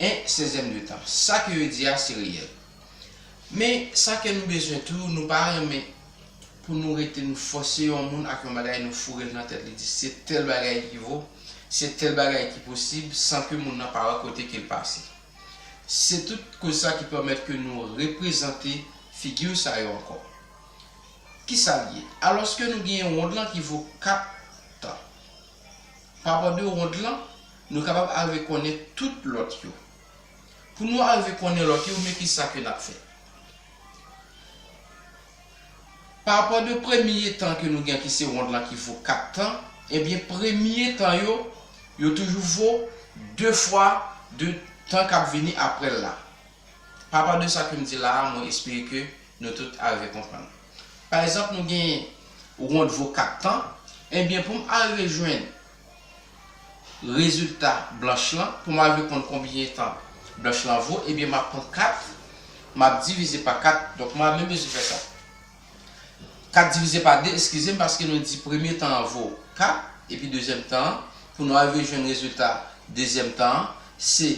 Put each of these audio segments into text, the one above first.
1 sezèm de tan. Sa ke yo di a se reyèl. Men, sa ke nou bezwen tou, nou pa renmen pou nou rete nou fòse yon moun ak yon bagay nou foure l nan tèt li di se tèl bagay ki vo, se tèl bagay ki posib san ke moun nan pa wè kote ke l pase. Se tout koz sa ki pèmèt ke nou reprezante figi sa yo ankò. Kisa l ye? Alòske nou gen yon wond lan ki vo 4 tan. Pa bò de wonn lan, nou kapab arive konnen tout lòt yo. Pou nou arive konnen lòt yo, men ki sa ke n ap fè. Pa bò de premye tan ke nou gen ki se wonn lan ki vo kat tan, ebyen premye tan yo, yo toujou vo de fwa de tan k ap vini apre l la. Papa de sa ke m di la a, mwen espere ke nou tout arive konprann. Pa egzanp nou gen wont vo 4 tan, enbyen pou m arive jwenn rezilta blanch lan, pou m arive konn konbyen tan blanch lan vo, enbyen m ap pran 4, m ap divize pa 4, donk mwen ap menm bezwen fè sa. 4 divize pa 2, eskize m, paske nou di premye tan an vo 4, epi dezyèm tan an, pou nou arive jwenn rezilta dezyèm tan an, se.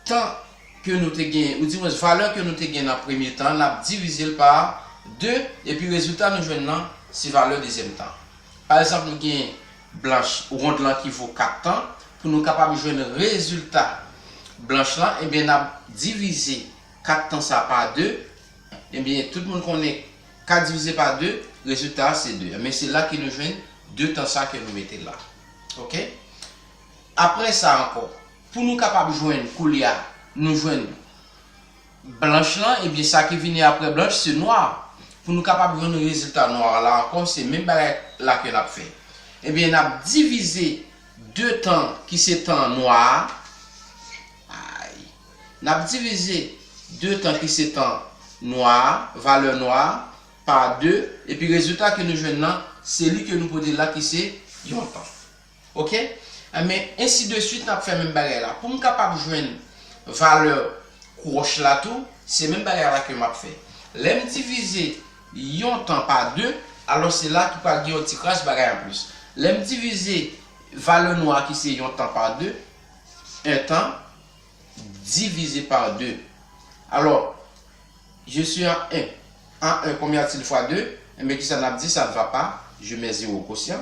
tan ke nou te genyen, ou di mwens valè ke nou te genyen nan premye tan, nap divize l pa 2, epi rezilta nou jwenn lan se valè dezyèm tan. Pa egzanp nou gen blanch wond lan ki vo 4 tan, pou nou kapab jwenn rezilta blanch lan, ebyen nap divize 4 tan sa pa 2, ebyen tout moun konnen 4 divize pa 2, rezilta a se 2, ebyen se la ke nou jwenn 2 tan sa ke nou mete la. Ok. Aprè sa ankò. Pou nou kapab jwenn koulye a nou jwenn blanch lan ebyen sa ki vini aprè blanch se nwa pou nou kapab jwenn rezilta nwa la ankò se menm bagay la ke nap fè ebyen nap divize 2 tan ki se tan nwa a ayy nap divize 2 tan ki se tan nwa a valè nwa a pa 2 epi rezilta ke nou jwenn lan se li ke nou pote la ki se yon tan. Ok enben ensi de swit nap fè menm bagay la poum kapab jwenn valè kwoch la tou se menm bagay la ke map fè lèm divize yon tan pa 2 alò se la ki pral gen yon ti kras bagay anplis lèm divize valè nou a ki se yon tan pa 2 1 tan divize pa 2 alò je si an 1 an 1 konbyen a t il fwa 2 enben kisa nap di sa n va pa je mè zewo kosyan.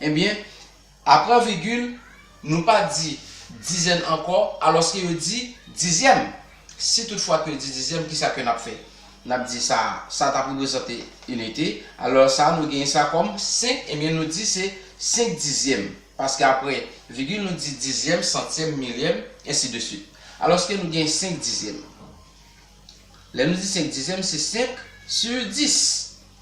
Ebyen, apre vigil, nou pa di dizèn ankò, alòske yo di dizyèm. Si tout fwa ke yo di dizyèm, ki sa ke n ap fè? N ap di sa a, sa a t ap reprezante inite, alò sa a nou genyen sa kòm senk, ebyen nou di se senk dizyèm, paske apre vigil nou di dizyèm, santyèm, milyèm, ensi de suit. Alòske nou genyen senk dizyèm. Lè nou di senk dizyèm, se senk sur dis.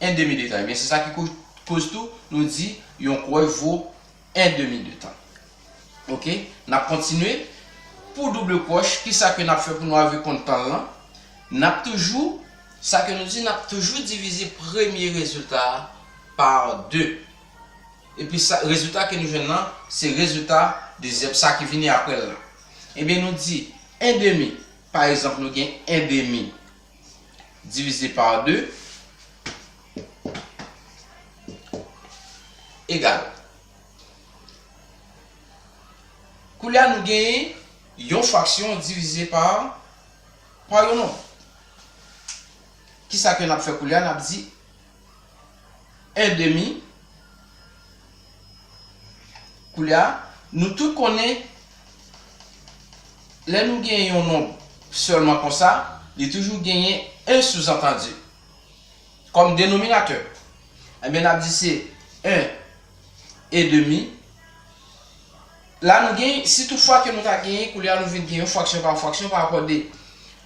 1 demi de tan. Ebyen se sa ki koz tou nou di yon kouwè vo 1 demi de tan. Ok, n ap kontinye. Pou double kwoch, ki sa ke n ap fè pou nou arive konn tan lan? N ap toujou, sa ke nou di, n ap toujou divize premye rezilta a pa 2. Epi sa, rezilta ke nou jwenn lan, se rezilta dezyèm, sa ki vini apre l lan. Ebyen nou di 1 demi, pa egzanp nou gen 1 demi divize pa 2 egal. Koulye a nou genyen yon fraksyon divize pa yon nonb. Kisa ke n ap fè koulye a? N ap di èdemi koulye a nou tout konnen lè nou gen yon nonb sèlman konsa li toujou genyen 1 souzantandi kòm denominatè enben n ap di se 1 èdemi la nou gen si tout fwa ke nou ta genyen koulye a nou vin gen yon fraksyon pa yon fraksyon parapò de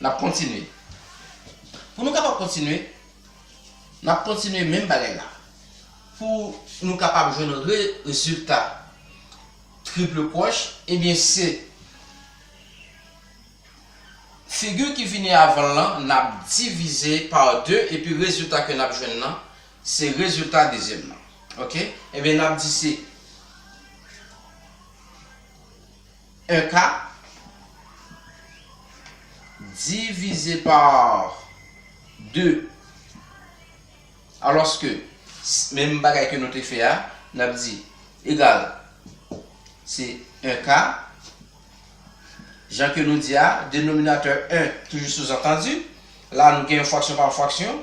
N ap kontinye. Pou nou kapab kontinye, n ap kontinye menm bagay la. Pou nou kapab jwenn rezilta triple crochet, ebyen se figi ki vini avan l lan n ap divize pa 2 epi rezilta ke n ap jwenn nan se rezilta dezyèm nan. Ok, ebyen n ap di se. 1 ka divize pa 2 alòske menm bagay ke nou te fè a n ap di egal se 1 ka jan ke nou di a denominatè 1 toujou souzantandi la nou gen yon fraksyon pa yon fraksyon